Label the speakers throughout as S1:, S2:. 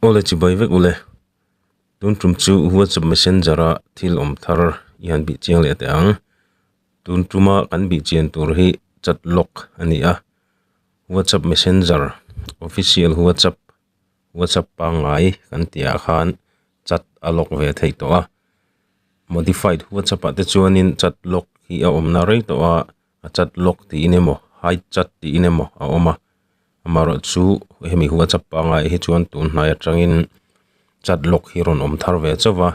S1: Ole chibai vek u le. Tun tum chu WhatsApp Messenger a thil awm thar i han bih chiang leh teh ang. Tun tuma kan bih chian tur hi chat lock a ni a. WhatsApp Messenger official WhatsApp WhatsApp pangngai kan tih ah khan chat a lock ve thei tawh a. Modified WhatsApp ah te chuan in chat lock hi a awmna rei tawh a. a chat lawk tiin emaw hide chat tiin emaw a awm a amaherawhchu chu hemi whatsapp pangai hi chuan tunhnai atangin chat lawk hi a rawn awm thar ve chauh a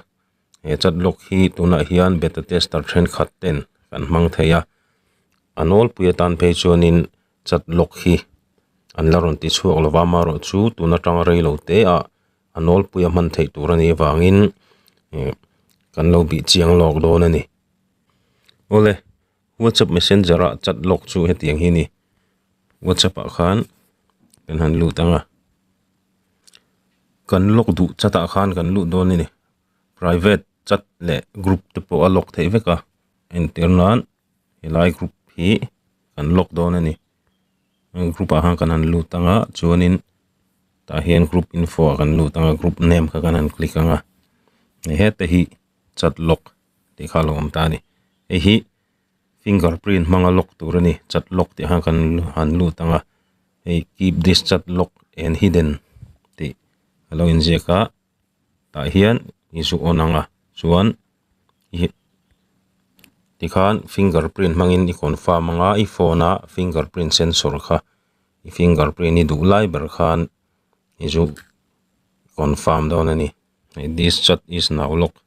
S1: he chat lawk hi tunah hian beta tester thenkhat ten kan hmang thei a a nawlpui atan phei chuanin chat lawk hi an la rawn ti chhuak lova amaherawhchu tun atanga rei lo teah a nawlpui a hman theih tur a nih avangin eh kan lo bih chiang lawk dawn a ni awle. WhatsApp messenger ah chat lock chu heti ang hi a ni WhatsApp ah khan kan han lut anga kan lock duh chat ah khan kan lut dawn a ni private chat leh group te pawh a lock theih vek a entir nan helai group hi kan lock dawn a ni heng group ah khan kan han lut anga chuanin tah hian group info ah kan lut anga group name kha kan han click anga ni heta hi chat lock. tih kha a lo awm ta a ni. Hei hi finger print hmanga lock tur a ni, chat lock tih kha kan han lut ang a, hei keep this chat lock and hidden tih a lo in ziak a, tah hian i zu awn ang a, chuan tih khan finger print hmangin i confirm ang a, i phone a finger print sensor kha i finger print i duh lai ber khan i zu confirm dawn a ni. This chat is now locked.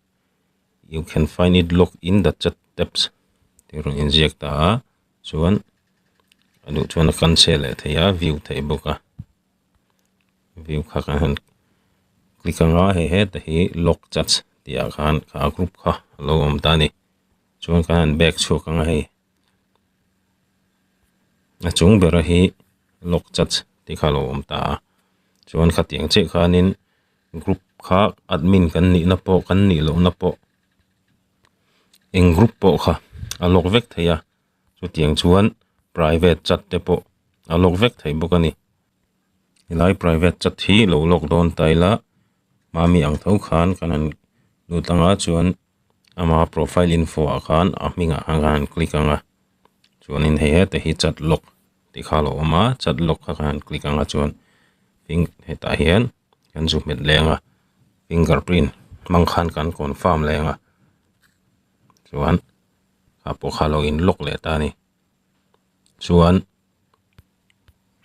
S1: You can find it locked in the chat tabs tih rawn inziak ta a, chuan a duh chuan a cancel leh thei a, view theih bawk a, view kha kan han click anga hei heta hi lock chats tih ah khan kha a group kha a lo awm ta a ni, chuan kan han back chhuak anga hei a chung bera hi lock chats tih kha a lo awm ta a, chuan khatiang chiah khanin. group kha admin kan nihna pawh kan nih lohna pawh eng group pawh kha a lock vek thei a chutiang chuan private chat te pawh a lock vek thei bawk a ni helai private chat hi lo lock dawn ta ila mami ang tho khan kan han lut ang a chuan-- ama profile info ah khan a hming ah khan an click ang a chuanin hei heta hi chat lock tih kha a lo awm a chat lock kha kan click ang a chuan finger hetah hian kan zuk hmet leh ang a fingerprint hmang khan kan confirm leh ang a chuan a pawh kha a lo in lock leh ta a ni. chuan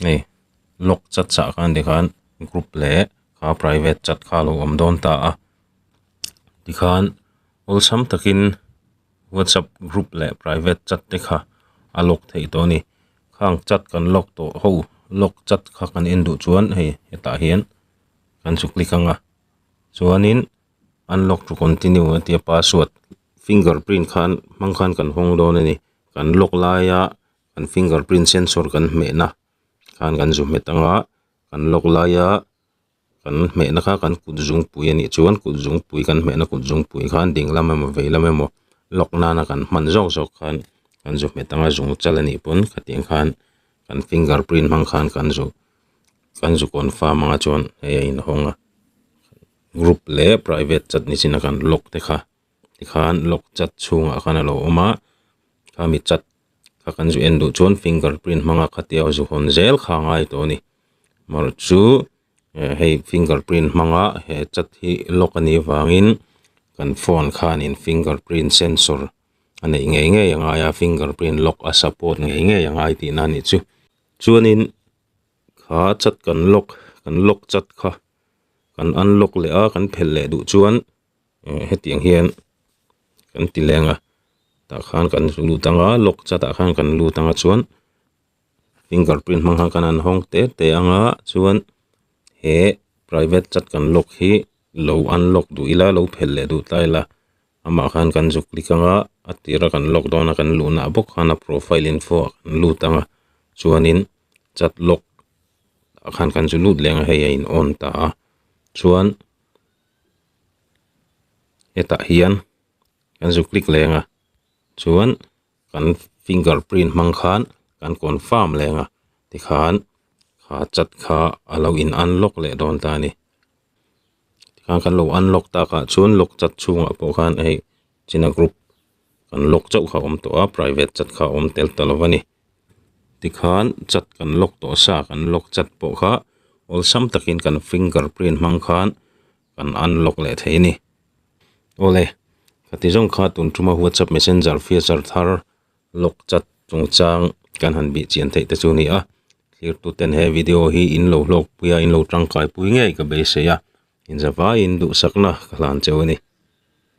S1: hei lawk chat chah khan ti khan group leh aa private chat kha lo awm dawn ta a tikhan awlsam takin whatsapp group leh private chat te kha a lawk theih tawh a ni khang chat kan lawk tawh ho lawk chat kha kan en duh chuan hei hetah hian kan chu click anga chuanin unlock to continue a tia password finger print khan hmang khan kan hawng dawn a ni. kan lock laia kan finger print sensor kan hmehna khan kan zu hmet ang a kan lock laia kan hmehna kha kan kut zungpui anih chuan kut zungpui kan hmehna kut zungpui khan ding lam emaw vei lam emaw lock nana kan hman zawk zawk khan kan zu hmet ang a zung chal anih pawn khatiang khan kan finger print hmang khan kan zu kan zu confirm anga chuan hei a inhawng a group leh private chat ni chin a kan lock te kha. tikhan lock chat chhungah khan a lo awm a kha mi chat kha kan zu en duh chuan finger print hmanga khatia ho zu hawn zel kha a ngai tawh a ni mawrh chu eh hei finger print hmanga he chat hi lock a nih avangin kan phone khanin finger print sensor a neih ngei ngei a ngai a finger print lock a support ngei ngei a ngai tihna a nih chu chuanin kha chat kan lock kan lock chat kha kan unlock leh a kan phelh leh duh chuan. heti ang hian kan ti leng a tah khan kan lut ang a lock chhat ah khan kan lut ang a chuan finger print hmang khan kan han hawng te te ang a chuan he private chat kan lock hi lo unlock duh ila lo phelh leh duh ta ila amah khan kan zuk klik ang a a tirah kan lock dawn a kan luhnah bawk khan a profile info ah kan lut ang a chuanin chat lock ah khan kan zu lut leng a hei a in on ta a chuan-- hetah hian kan zu click leng a chuan kan finger print hmang khan kan confirm leng a tikhan kha chat kha a lo in unlock leh dawn ta a ni tikhan kan lo unlock tak ah chuan lock chat chhungah pawh khan hei china group kan lock chauh kha a awm tawh a private chat kha a awm tel ta lo a ni. tikhan chat kan lock tawh sa kan lock chat pawh kha awlsam takin kan finger print hmang khan kan unlock leh thei a ni awle ka ti zawng kha tun tuma whatsapp messenger feature thar lock chat chungchang kan han bih chian theih te chu a ni a thirtuten he video hi in lo hlawk pui a in lo tangkai pui ngei ka beisei a inzavaiin duhsakna ka hlan cheu a ni.